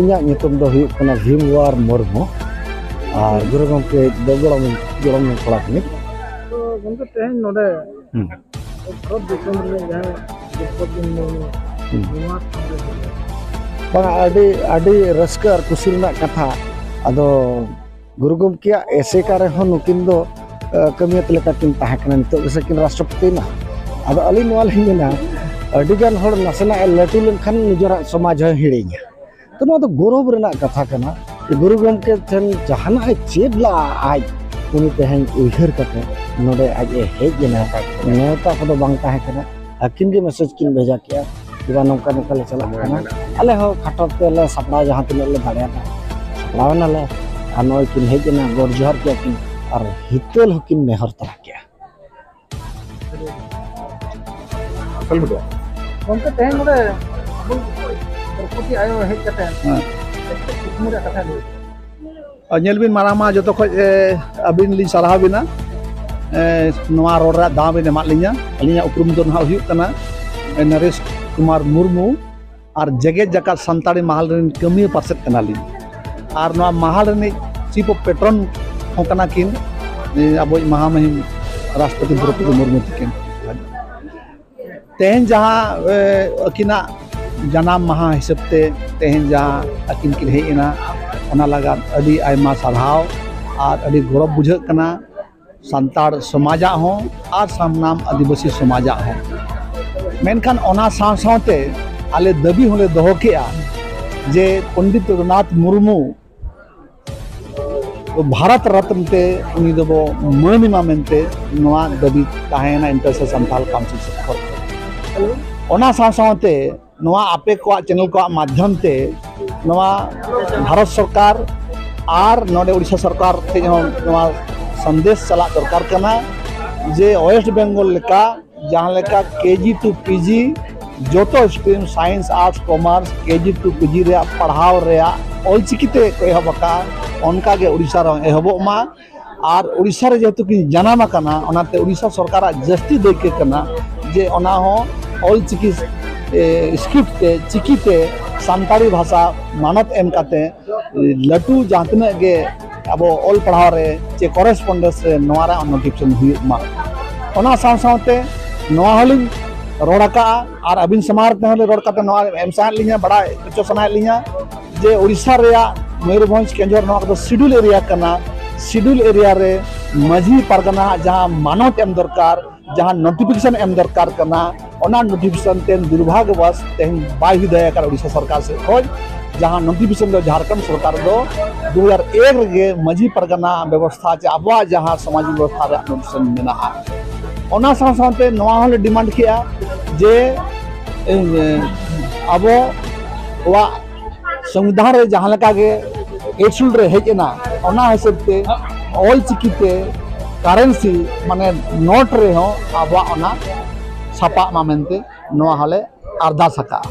ᱤᱧᱟᱹᱜ ᱧᱩᱛᱩᱢ ᱫᱚ ᱦᱩᱭᱩᱜ ᱠᱟᱱᱟ ᱵᱷᱤᱢᱣᱟᱨ ᱢᱩᱨᱢᱩ ᱟᱨ ᱜᱩᱨᱩ ᱜᱚᱢᱠᱮ ᱫᱚ ᱜᱚᱲᱚᱢ ᱜᱚᱲᱚᱢ ᱠᱚᱲᱟ ᱠᱟᱹᱱᱟᱹᱧ ᱛᱮᱦᱮᱧ ᱱᱚᱰᱮ ᱦᱩᱸ ᱵᱷᱟᱨᱚᱛ ᱫᱤᱥᱚᱢ ᱨᱮ ᱡᱟᱦᱟᱸ ᱫᱨᱚᱯᱚᱫᱤ ᱢᱩᱨᱢᱩ ᱱᱚᱣᱟ ᱠᱷᱚᱱ ᱵᱟᱝ ᱟᱹᱰᱤ ᱟᱹᱰᱤ ᱨᱟᱹᱥᱠᱟᱹ ᱟᱨ ᱠᱩᱥᱤ ᱨᱮᱱᱟᱜ ᱠᱟᱛᱷᱟ ᱟᱫᱚ ᱜᱩᱨᱩ ᱜᱚᱢᱠᱮᱭᱟᱜ ᱮᱥᱮᱠᱟ ᱨᱮᱦᱚᱸ ᱱᱩᱠᱤᱱ ᱫᱚ ᱠᱟᱹᱢᱤᱭᱟᱹᱛ ᱞᱮᱠᱟ ᱠᱤᱱ ᱛᱟᱦᱮᱸ ᱠᱟᱱᱟ ᱱᱤᱛᱚᱜ ᱜᱮᱥᱮ ᱠᱤᱱ ᱨᱟᱥᱴᱨᱚᱯᱚᱛᱤ ᱮᱱᱟ ᱟᱫᱚ ᱟᱹᱞᱤᱧ ᱱᱚᱣᱟ ᱞᱤᱧ ᱢᱮᱱᱟ ᱟᱹᱰᱤᱜᱟᱱ ᱦᱚᱲ ᱱᱟᱥᱮᱱᱟᱜ ᱞᱟᱹᱴᱩ ᱞᱮᱱᱠᱷᱟᱱ ᱱᱤᱡᱮᱨᱟᱜ ᱥᱚᱢᱟᱡᱽ ᱦᱚᱸᱭ ᱦᱤᱲᱤᱧᱟ ᱛᱚ ᱱᱚᱣᱟ ᱫᱚ ᱜᱚᱨᱚᱵ ᱨᱮᱱᱟᱜ ᱠᱟᱛᱷᱟ ᱠᱟᱱᱟ ᱜᱩᱨᱩ ᱜᱚᱢᱠᱮ ᱴᱷᱮᱱ ᱡᱟᱦᱟᱱᱟᱜ ᱮ ᱪᱮᱫ ᱞᱟᱜᱼᱟ ᱟᱡ ᱩᱱᱤ ᱛᱮᱦᱮᱧ ᱩᱭᱦᱟᱹᱨ ᱠᱟᱛᱮ ᱱᱚᱰᱮ ᱟᱡ ᱮ ᱦᱮᱡ ᱮᱱᱟ ᱱᱮᱣᱛᱟ ᱠᱚᱫᱚ ᱵᱟᱝ ᱛᱟᱦᱮᱸ ᱠᱟᱱᱟ ᱟᱹᱠᱤᱱ ᱜᱮ ᱢᱮᱥᱮᱡᱽ ᱠᱤᱱ ᱵᱷᱮᱡᱟ ᱠᱮᱜᱼᱟ ᱡᱮ ᱱᱚᱝᱠᱟ ᱱᱚᱝᱠᱟ ᱞᱮ ᱪᱟᱞᱟᱜ ᱠᱟᱱᱟ ᱟᱞᱮ ᱦᱚᱸ ᱠᱷᱟᱴᱚ ᱛᱮᱞᱮ ᱥᱟᱯᱲᱟᱣ ᱡᱟᱦᱟᱸ ᱛᱤᱱᱟᱹᱜ ᱞᱮ ᱫᱟᱲᱮᱭᱟᱫᱟ ᱥᱟᱯᱲᱟᱣ ᱮᱱᱟᱞᱮ ᱟᱨ ᱱᱚᱜᱼᱚᱭ ᱠᱤᱱ ᱦᱮᱡ ᱮᱱᱟ ᱜᱚᱰ ᱡᱚᱦᱟᱨ ᱠᱮᱜᱼᱟ ᱠᱤᱱ ᱟᱨ ᱦᱤᱛᱟᱹᱞ ᱦᱚᱸᱠᱤᱱ ᱱᱮᱦᱚᱨ ᱛᱟᱨᱟ ᱠᱮᱜᱼᱟ ᱜᱚᱢᱠᱮ ᱛᱮᱦᱮᱧ ᱱᱚᱰᱮ ᱟᱵᱚ ᱫᱨᱳᱯᱚᱫᱤ ᱟᱭᱳ ᱦᱮᱡ ᱠᱟᱛᱮ ᱠᱩᱠᱢᱩ ᱨᱮᱭᱟᱜ ᱠᱟᱛᱷᱟ ᱞᱟᱹᱭ ᱧᱮᱞ ᱵᱤᱱ ᱢᱟᱨᱟᱝ ᱢᱟ ᱡᱚᱛᱚ ᱠᱷᱚᱡ ᱟᱹᱵᱤᱱ ᱞᱤᱧ ᱥᱟᱨᱦᱟᱣ ᱵᱤᱱᱟ ᱱᱚᱣᱟ ᱨᱚᱲ ᱨᱮᱭᱟᱜ ᱫᱟᱣ ᱵᱤᱱ ᱮᱢᱟᱫ ᱞᱤᱧᱟ ᱟᱹᱞᱤᱧᱟᱜ ᱩᱯᱨᱩᱢ ᱫᱚ ᱱᱟᱦᱟᱜ ᱦᱩᱭᱩᱜ ᱠᱟᱱᱟ ᱱᱚᱨᱮᱥ ᱠᱩᱢᱟᱨ ᱢᱩᱨᱢᱩ ᱟᱨ ᱡᱮᱜᱮᱛ ᱡᱟᱠᱟᱛ ᱥᱟᱱᱛᱟᱲᱤ ᱢᱟᱦᱟᱞ ᱨᱮᱱ ᱠᱟᱹᱢᱤᱭᱟᱹ ᱯᱟᱨᱥᱮᱫ ᱠᱟᱱᱟᱞᱤᱧ ᱟᱨ ᱱᱚᱣᱟ ᱢᱟᱦᱟᱞ ᱨᱤᱱᱤᱡ ᱪᱤᱯ ᱚᱯᱷ ᱯᱮᱴᱨᱚᱱ ᱦᱚᱸ ᱠᱟᱱᱟ ᱠᱤᱱ ᱟᱵᱚᱭᱤᱡ ᱢᱟᱦᱟ ᱢᱩᱦᱤᱢ ᱨᱟᱥᱴᱨᱚᱯᱚᱛᱤ ᱫᱨᱚᱯᱚᱫᱤ ᱢᱩᱨᱢᱩ ᱛᱟᱹᱠᱤᱱ ᱛᱮᱦᱮᱧ ᱡᱟᱦᱟᱸ ᱟᱹᱠᱤᱱᱟᱜ ᱡᱟᱱᱟᱢ ᱢᱟᱦᱟ ᱦᱤᱥᱟᱹᱵ ᱛᱮ ᱛᱮᱦᱮᱧ ᱡᱟᱦᱟᱸ ᱟᱹᱠᱤᱱ ᱠᱤᱱ ᱦᱮᱡ ᱮᱱᱟ ᱚᱱᱟ ᱞᱟᱜᱟᱫ ᱟᱹᱰᱤ ᱟᱭᱢᱟ ᱥᱟᱨᱦᱟᱣ ᱟᱨ ᱟᱹᱰᱤ ᱜᱚᱨᱚᱵᱽ ᱵᱩᱡᱷᱟᱹᱜ ᱠᱟᱱᱟ ᱥᱟᱱᱛᱟᱲ ᱥᱚᱢᱟᱡᱟᱜ ᱦᱚᱸ ᱟᱨ ᱥᱟᱱᱟᱢ ᱟᱹᱫᱤᱵᱟᱹᱥᱤ ᱥᱚᱢᱟᱡᱟᱜ ᱦᱚᱸ ᱢᱮᱱᱠᱷᱟᱱ ᱚᱱᱟ ᱥᱟᱶ ᱥᱟᱶᱛᱮ ᱟᱞᱮ ᱫᱟᱹᱵᱤ ᱦᱚᱸᱞᱮ ᱫᱚᱦᱚ ᱠᱮᱜᱼᱟ ᱡᱮ ᱯᱚᱱᱰᱤᱛ ᱨᱚᱜᱷᱩᱱᱟᱛᱷ ᱢᱩᱨᱢᱩ ᱵᱷᱟᱨᱚᱛ ᱨᱚᱛᱱ ᱛᱮ ᱩᱱᱤ ᱫᱚᱵᱚ ᱢᱟᱹᱱ ᱮᱢᱟ ᱢᱮᱱᱛᱮ ᱱᱚᱣᱟ ᱫᱟᱹᱵᱤ ᱛᱟᱦᱮᱸᱭᱮᱱᱟ ᱤᱱᱴᱟᱨᱥᱮ ᱥᱟᱱᱛᱟᱲ ᱠᱟᱣᱩᱱᱥᱤᱞ ᱥᱮᱫ ᱠᱷᱚᱱ ᱚᱱᱟ ᱥᱟᱶ ᱥᱟᱶᱛᱮ ᱱᱚᱣᱟ ᱟᱯᱮ ᱠᱚᱣᱟᱜ ᱪᱮᱱᱮᱞ ᱠᱚᱣᱟᱜ ᱢᱟᱫᱽᱫᱷᱚᱢ ᱛᱮ ᱱᱚᱣᱟ ᱵᱷᱟᱨᱚᱛ ᱥᱚᱨᱠᱟᱨ ᱟᱨ ᱱᱚᱰᱮ ᱩᱲᱤᱥᱥᱟ ᱥᱚᱨᱠᱟᱨ ᱴᱷᱮᱱ ᱦᱚᱸ ᱱᱚᱣᱟ ᱥᱟᱸᱫᱮᱥ ᱪᱟᱞᱟᱜ ᱫᱚᱨᱠᱟᱨ ᱠᱟᱱᱟ ᱡᱮ ᱳᱭᱮᱥᱴ ᱵᱮᱝᱜᱚᱞ ᱞᱮᱠᱟ ᱡᱟᱦᱟᱸ ᱞᱮᱠᱟ ᱠᱮᱡᱤ ᱴᱩ ᱯᱤᱡᱤ ᱡᱚᱛᱚ stream science arts commerce KG to PG ᱨᱮᱭᱟᱜ ᱯᱟᱲᱦᱟᱣ ᱨᱮᱭᱟᱜ ᱚᱞᱪᱤᱠᱤ ᱛᱮ ᱠᱚ ᱮᱦᱚᱵ ᱟᱠᱟᱫᱼᱟ ᱚᱱᱠᱟᱜᱮ ᱩᱲᱤᱥᱥᱟ ᱨᱮᱦᱚᱸ ᱮᱦᱚᱵᱚᱜ ᱢᱟ ᱟᱨ ᱩᱲᱤᱥᱥᱟ ᱨᱮ ᱡᱮᱦᱮᱛᱩ ᱠᱤᱱ ᱡᱟᱱᱟᱢ ᱟᱠᱟᱱᱟ ᱚᱱᱟᱛᱮ ᱩᱲᱤᱥᱥᱟ ᱥᱚᱨᱠᱟᱨᱟᱜ ᱡᱟᱹᱥᱛᱤ ᱫᱟᱹᱭᱠᱟᱹ ᱠᱟᱱᱟ ᱡᱮ ᱚᱱᱟ ᱦᱚᱸ ᱚᱞ ᱪᱤᱠᱤ ᱥᱠᱨᱤᱯᱴ ᱛᱮ ᱪᱤᱠᱤ ᱛᱮ ᱥᱟᱱᱛᱟᱲᱤ ᱵᱷᱟᱥᱟ ᱢᱟᱱᱚᱛ ᱮᱢ ᱠᱟᱛᱮ ᱞᱟᱹᱴᱩ ᱡᱟᱦᱟᱸ ᱛᱤᱱᱟᱹᱜ ᱜᱮ ᱟᱵᱚ ᱚᱞ ᱯᱟᱲᱦᱟᱣ ᱨᱮ ᱪᱮ ᱠᱚᱨᱮᱥᱯᱚᱱᱰᱮᱱᱥ ᱨᱮ ᱱᱚᱣᱟ ᱨᱮ ᱱᱳᱴᱤᱯᱷᱤᱠᱮᱥᱚᱱ ᱦᱩᱭᱩᱜ ᱢᱟ ᱚᱱᱟ ᱥᱟᱶ ᱥᱟᱶᱛᱮ ᱱᱚᱣᱟ ᱦᱚᱸᱞᱤᱧ ᱨᱚᱲ ᱟᱠᱟᱜᱼᱟ ᱟᱨ ᱟᱹᱵᱤᱱ ᱥᱟᱢᱟᱝ ᱨᱮ ᱛᱮᱦᱚᱸ ᱞᱤᱧ ᱨᱚᱲ ᱠᱟᱛᱮ ᱱᱚᱣᱟ ᱮᱢ ᱥᱟᱱᱟᱭᱮᱫ ᱞᱤᱧᱟᱹ ᱵᱟᱲᱟᱭ ᱦᱚᱪᱚ ᱥᱟᱱᱟᱭᱮᱫ ᱞᱤᱧᱟᱹ ᱡᱮ ᱳᱰᱤᱥᱟ ᱨᱮᱭᱟᱜ ᱢᱚᱭᱩᱨᱵᱷᱚᱸᱡᱽ ᱠᱮᱸᱡᱚᱨ ᱱᱚᱣᱟ ᱠᱚᱫᱚ ᱥᱤᱰᱩᱞ ᱮᱨᱤᱭᱟ ᱠᱟᱱᱟ ᱥᱤᱰᱩᱞ ᱮᱨᱤᱭᱟ ᱨᱮ ᱢᱟᱹᱡᱷᱤ ᱯᱟᱨᱜᱟᱱᱟ ᱡᱟᱦᱟᱸ ᱢᱟᱱᱚᱛ ᱮᱢ ᱫᱚᱨᱠᱟᱨ ᱡᱟᱦᱟᱸ ᱱᱳᱴᱤᱯᱷᱤᱠᱮᱥᱚᱱ ᱮᱢ ᱫᱚᱨᱠᱟᱨ ᱠᱟᱱᱟ ᱚᱱᱟ ᱱᱳᱴᱤᱯᱷᱤᱠᱮᱥᱚᱱ ᱛᱮ ᱫᱩᱨᱵᱷᱟᱜᱽᱭᱚᱵᱚᱥ ᱛᱮᱦᱮᱧ ᱵᱟᱭ ᱦᱩᱭ ᱫᱟᱲᱮ ᱟᱠᱟᱱᱟ ᱳᱰᱤᱥᱟ ᱥᱚᱨᱠᱟᱨ ᱥᱮᱫ ᱠᱷᱚᱱ ᱡᱟᱦᱟᱸ ᱱᱳᱴᱤᱯᱷᱤᱠᱮᱥᱚᱱ ᱫᱚ ᱡᱷᱟᱲᱠᱷᱚᱸᱰ ᱥᱚᱨᱠᱟᱨ ᱫᱚ ᱫᱩ ᱦᱟᱡᱟᱨ ᱮᱠ ᱨᱮᱜᱮ ᱢᱟᱹᱡᱷᱤ ᱯᱟᱨᱜᱟᱱᱟ ᱵᱮᱵᱚᱥᱛᱷᱟ ᱪᱮ ᱟᱵᱚᱣᱟᱜ ᱡᱟᱦᱟᱸ ᱥᱚᱢᱟᱡᱽ ᱵᱮᱵᱚᱥᱛᱷᱟ ᱨᱮᱭᱟᱜ ᱱᱳᱴᱤᱯᱷᱤᱠᱮᱥᱚᱱ ᱢᱮᱱᱟᱜᱼᱟ ᱚᱱᱟ ᱥᱟᱶ ᱥᱟᱶᱛᱮ ᱱᱚᱣᱟ ᱦᱚᱸᱞᱮ ᱰᱤᱢᱟᱱᱰ ᱠᱮᱜᱼᱟ ᱡᱮ ᱟᱵᱚ ᱠᱚᱣᱟᱜ ᱥᱚᱝᱵᱤᱫᱷᱟᱱ ᱨᱮ ᱡᱟᱦᱟᱸ ᱞᱮᱠᱟ ᱜᱮ ᱮᱰᱥᱩᱞ ᱨᱮ ᱦᱮᱡ ᱮᱱᱟ ᱚᱱᱟ ᱦᱤᱥᱟᱹᱵ ᱛᱮ ᱚᱞ ᱪᱤᱠᱤ ᱛᱮ ᱠᱟᱨᱮᱱᱥᱤ ᱢᱟᱱᱮ ᱱᱳᱴ ᱨᱮᱦᱚᱸ ᱟᱵᱚᱣᱟᱜ ᱚᱱᱟ ᱥᱟᱯᱟᱜ ᱢᱟ ᱢᱮᱱᱛᱮ ᱱᱚᱣᱟ ᱦᱚᱸᱞᱮ ᱟᱨᱫᱟᱥ ᱟᱠᱟᱜᱼᱟ